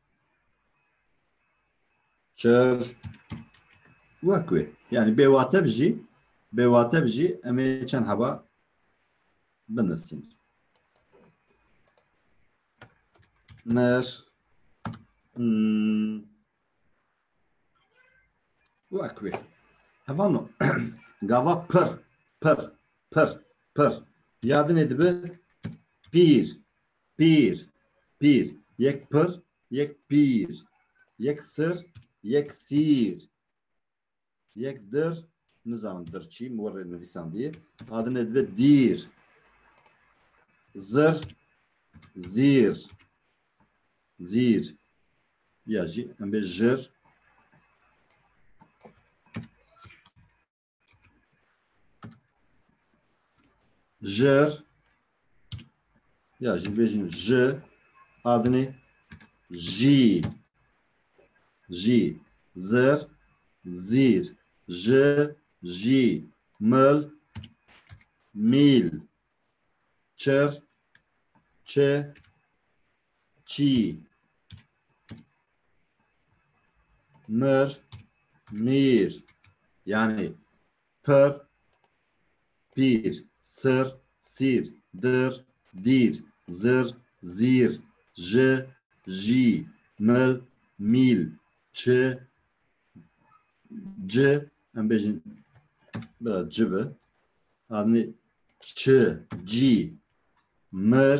Çer wek wê. Yani bêwate bijî, bêwate bijî em ê çend heba binivîsin. Mer hmm. wek wê. Hevano gava pir, pir, pir, pir. Yadinê dibi pîr, Pîr, pîr. Yek pir, yek pîr. Yek sir, yek sîr. Yek dir, nizanim dir çi, min werê nivîsandiye. Adine dibe dîr. Zir, zîr. Zîr. Ya jî em bê jir. jer ya jî bêjin ji adinê jî jî zir zîr ji jî mil mîl çir çi Çî mir mir yani pir pîr sir sîr dir dîr zir zîr ji jî mil mîl çi ci em bêjin biraz ci bi yani çi cî mir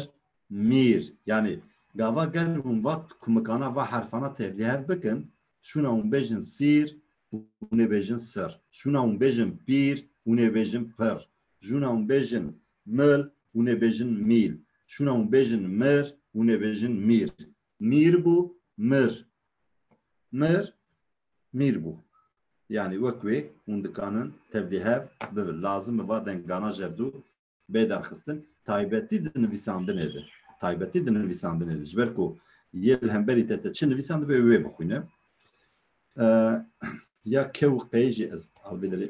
Mîr, yanî gava ger hûn va kumikana va herfana tevlî hev bikin, şûna hûn bêjin sîr, hûn ê bêjin sir, şûna hûn bêjin pîr, hûn ê bêjin pir, jûna hûn bêjin mil, hûn ê bêjin mîl, şûna hûn bêjin mir, hûn ê bêjin mîr. Mîr bû, mir. Mir, mîr bû. Yanî wek wê hûn dikanin tevlî hev bibin. Lazim e va dengana jevdû bê derxistin taybetî di nivîsandinê de taybetî di nivîsandinê de ji ber ku yê li hemberî te te çi nivîsan dibe wê bixwîne ya kew qê jî ez albî dilê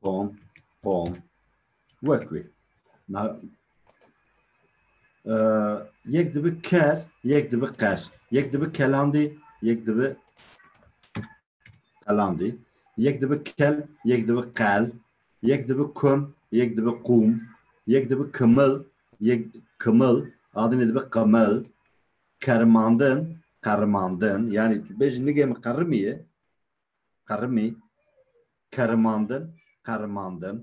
Pom, pom. Wek wê. Ma e, yek dibi ker, yek dibi qer. Yek dibi kelandî, yek dibi qelandî. Yek dibi kel, yek dibi qel. Yek dibi kum, yek dibi qum. Yek dibi kimil, yek kimil. Adinê dibi qimil. Kermandin, qerrimandin, yanî tu bêjî nigê min qerrimî ye, qerrimî, kermandin, qerrimandin,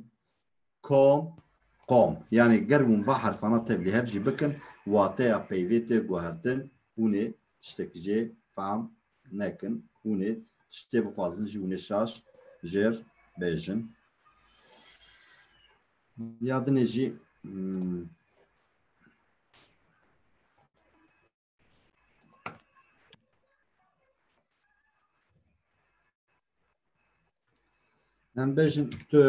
kom, qom. Yanî ger hûn va herfana tevlî hev jî bikin wateya peyvê tê guhertin, hûnê tiştekî jê fehm nekin, hûnê tiştê bixwazin jî hûnê şaş jêr bêjin. ya dinê jî hmm, em bêjin tu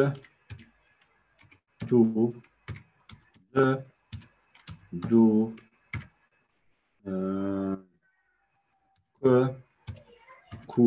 tu de du e, ku ku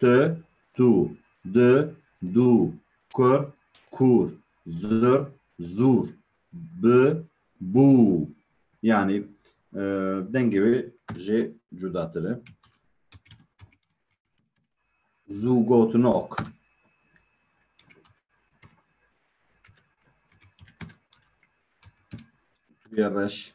tu, tu, di, du, kur, kur, zur, zur, bi, bu. Yani e, dengê wê jê cudatir e. Zûgotinok. Tuye reş.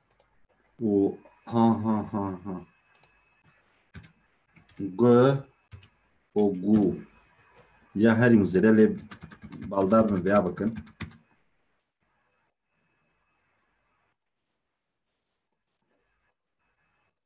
O ha ha ha ha. G o gu. Ya herî mizêre lê baldar min veya bikin.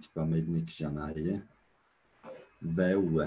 Tipa meydinê kijanayê ye. Ve û we.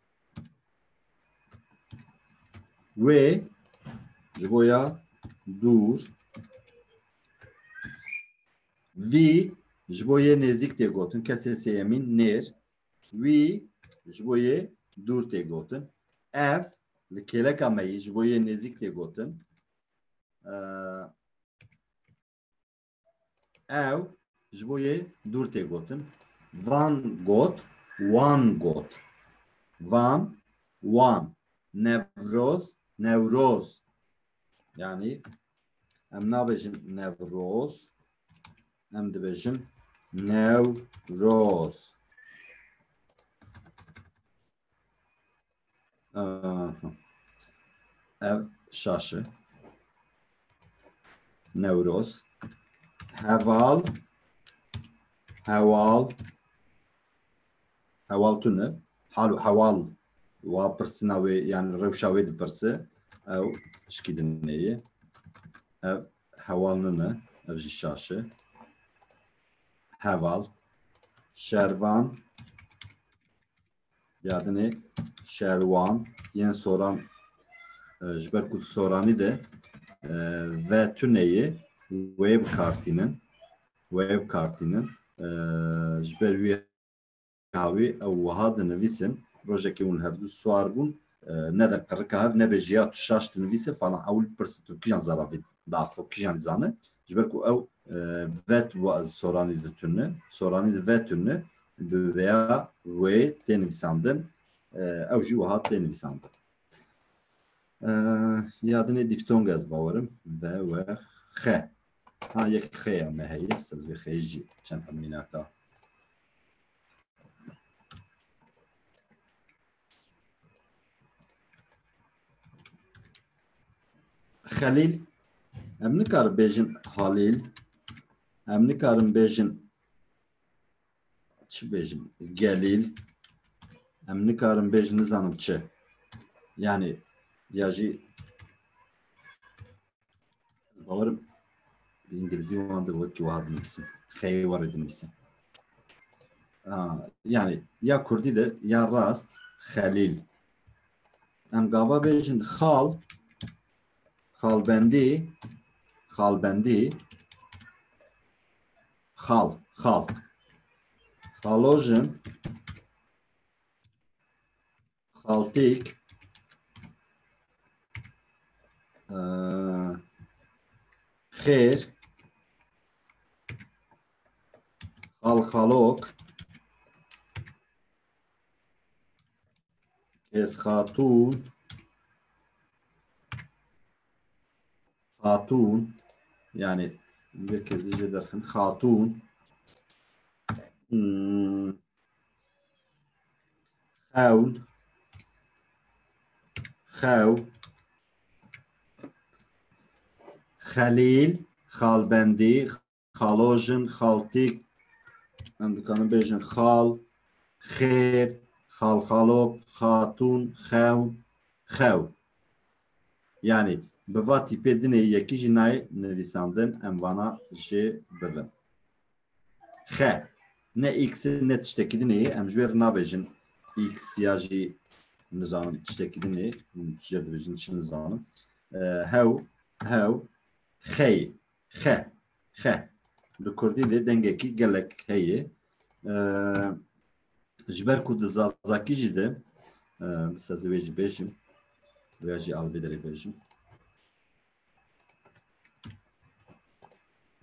Wê ji bo ya dûr vî ji bo yê nêzîk tê gotin kesê sêyemîn nêr wî ji bo yê dûr tê gotin ev li kêleka me yî ji bo yê nêzîk tê gotin Ew ji bo yê dûr tê gotin. Van got, wan got. Van, wan. Nevroz, newroz. Yani em nabêjin nevroz, em dibêjin newroz. Ev şaşi. Newroz. Heval. Heval. Heval tune. Halu heval. Wa pirsina wê yani rewşa wê dipirse. Ew şikî dinêye. Ev heval nine ev jî şaşe heval şervan yadinê şerwan yên soran e, ji ber ku soranî de e, ve tuneyê wê bikartînin wê bikartînin e, ji ber wî Hawî ew wiha dinivîsin, Rojekê hûn hevdu siwar bûn, nede qirika hev nebe jiya tu şaş dinivîse falan ewil bipirse tu kîjan zerafî dafo kîjan dizane ji ber ku ew vet wa ez soranî di tune soranî di ve tune bi veya wê tê nivîsandin ew jî wiha tê nivîsandin yadinê dîftong ez bawerim ve we xe ha yek xeya me heye sezvê xeyê jî çend hemînaka Xelîl em nikarin bêjin Halîl em nikarin bêjin çi bêjin Gelîl em nikarin bêjin nizanim çi yani ya jî Bawerim bi îngilîzî wan de wekî wiha dinivîsin. Xeyê warê dinivîsin. Yani ya Kurdî de ya rast Xelîl. Em gava bêjin xal xalbendî xalbendî xal xal. Xalojin xaltêk xêr xalxalok kes xatûn xatûn yani bir kez dice derxin xatûn hmm. Xewl Xew Xelîl Xalbendî Xalojin Xaltîk em dikarin bêjin xal xêr xalxalok xatûn xewn xew yani bi va tîpê dinê yekî jî nayê nivîsandin em vana jê bibin Xe. Ne x ne tiştekî din ê, em ji wê re nabêjin x ya jî nizanim tiştekî din ê, hûn ji jê re dibêjin çi nizanim. Hew, hew, xey, xe, xe. Li Kurdî dê dengekî gelek heye. Ji ber ku di Zazakî jî de, bi sezê wê jî bêjim, wê jî alvê derê bêjim.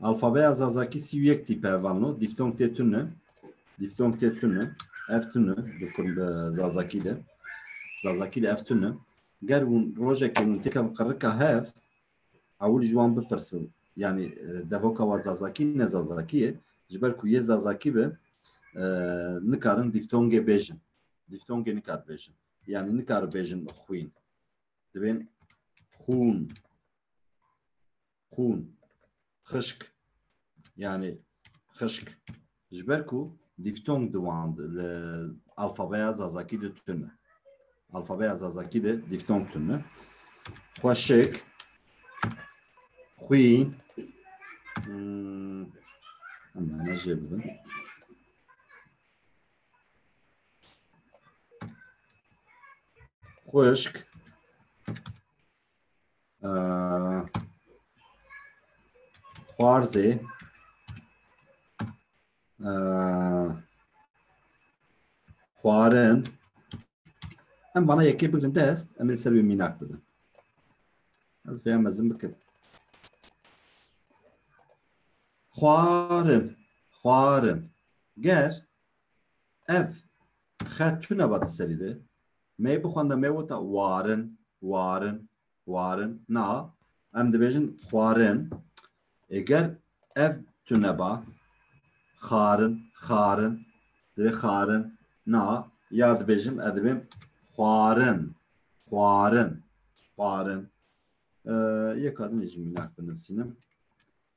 Alfabeya Zazakî sî û yek tîpe vano. Dîftong tê tune. Dîftong tê tune. Ev tune bi kurm bi Zazakî de. Zazakî de ev tune. Ger hûn rojekê hûn têkevin qirika hev ewil ji wan bipirsin. Yani e, devoka wa Zazakî ne Zazakî ye. Ji ber ku yê Zazakî be e, nikarin dîftongê bêjin. Dîftongê nikar bêjin. Yani nikar bêjin xwîn. dibên xûn xûn xişk yani xişk ji ber ku dîftong di wan li alfabeya zazakî de tune alfabeya zazakî de dîftong tune xweşik xwîn hmm, em ne jê bibin Xwişk xwarzê xwarin em bana yekê bigrin dest em ê ser wê mînak bidin ez vêya mezin bikim xwarin xwarin Ger ev xet tune ba di serî de me bixwenda me wota warin, warin, warin na em dibêjin xwarin. E ger ev tune ba xarin, xarin divê xarin na ya dibêjim ez dibêm xwarin, xwarin, xwarin. E, yeka dinêjim mînak binivîsînim.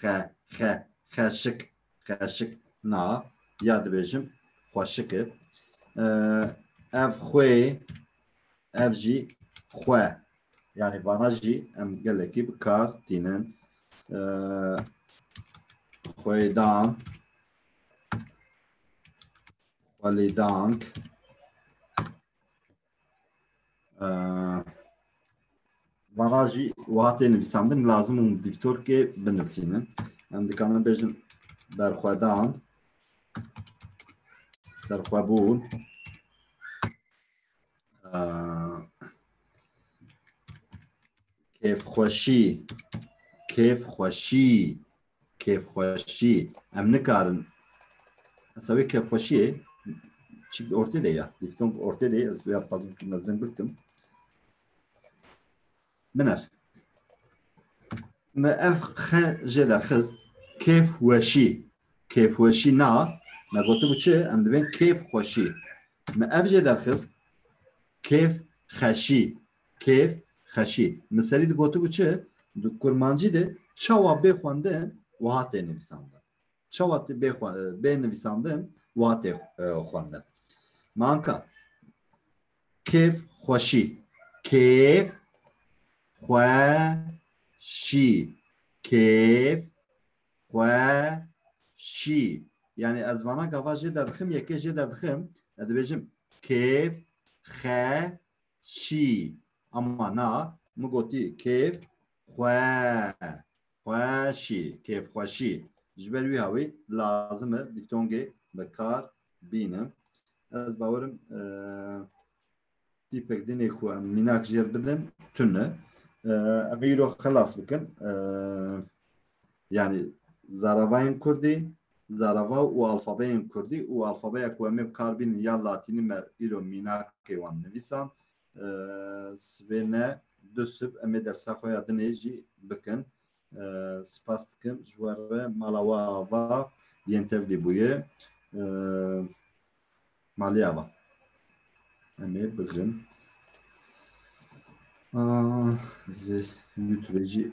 Xe, xe, xeşik, xeşik. Na, ya dibêjim, xweşik e. Ev xwê, ev jî xwe. Yani vana jî em gelekî bi kar tînin. Xwêdan, xwelîdank, Vana jî wiha tê nivîsandin lazim û dîvtorkê binivîsînin. Em dikarin bêjin berxwedan, serxwebûn, kêfxweşî, kêfxweşî kêfxweşî em nikarin esa wê kêfxweşiyê çi ortê de ya dîftong ortê de ez ya dixwazim tu mezin bikim minar me ev xe jê derxist kêfweşî kêfweşî na me gotibû çi em divên kêfxweşî me ev jê derxist kêf xeşî Kêf, xeşî. Min serî di gotibû çi? Di kurmancî de çawa bê xwendin wiha tê nivîsandin. Çawa tê bê xwe bê nivîsandin wiha tê xwendin. Min anka kêf xweşî. Kêf xweşî. Kêf xweşî. Yani ez vana gava jê derdixim, yekê jê derdixim, ez dibêjim kêf xe Şî. Ama na min gotî kêf xwe xweşî kêf xweşî. Ji ber wî hawî lazim e dîftongê bi kar bînim. Ez bawerim tîpek dinê ku em mînak jêr bidin tune. Ev îro xilas bikin. Yani zaravayên kurdî, zarava û alfabeyên kurdî û alfabeya ku em ê bi kar bînin ya latînî me îro mînakê wan nivîsan sibê ne du sib em ê dersa xwe ya dinê jî bikin. Spas dikim ji we re mala we ava yên tevlî bûye. Malê ava. Em ê bigirin. Ez vê YouTubeê jî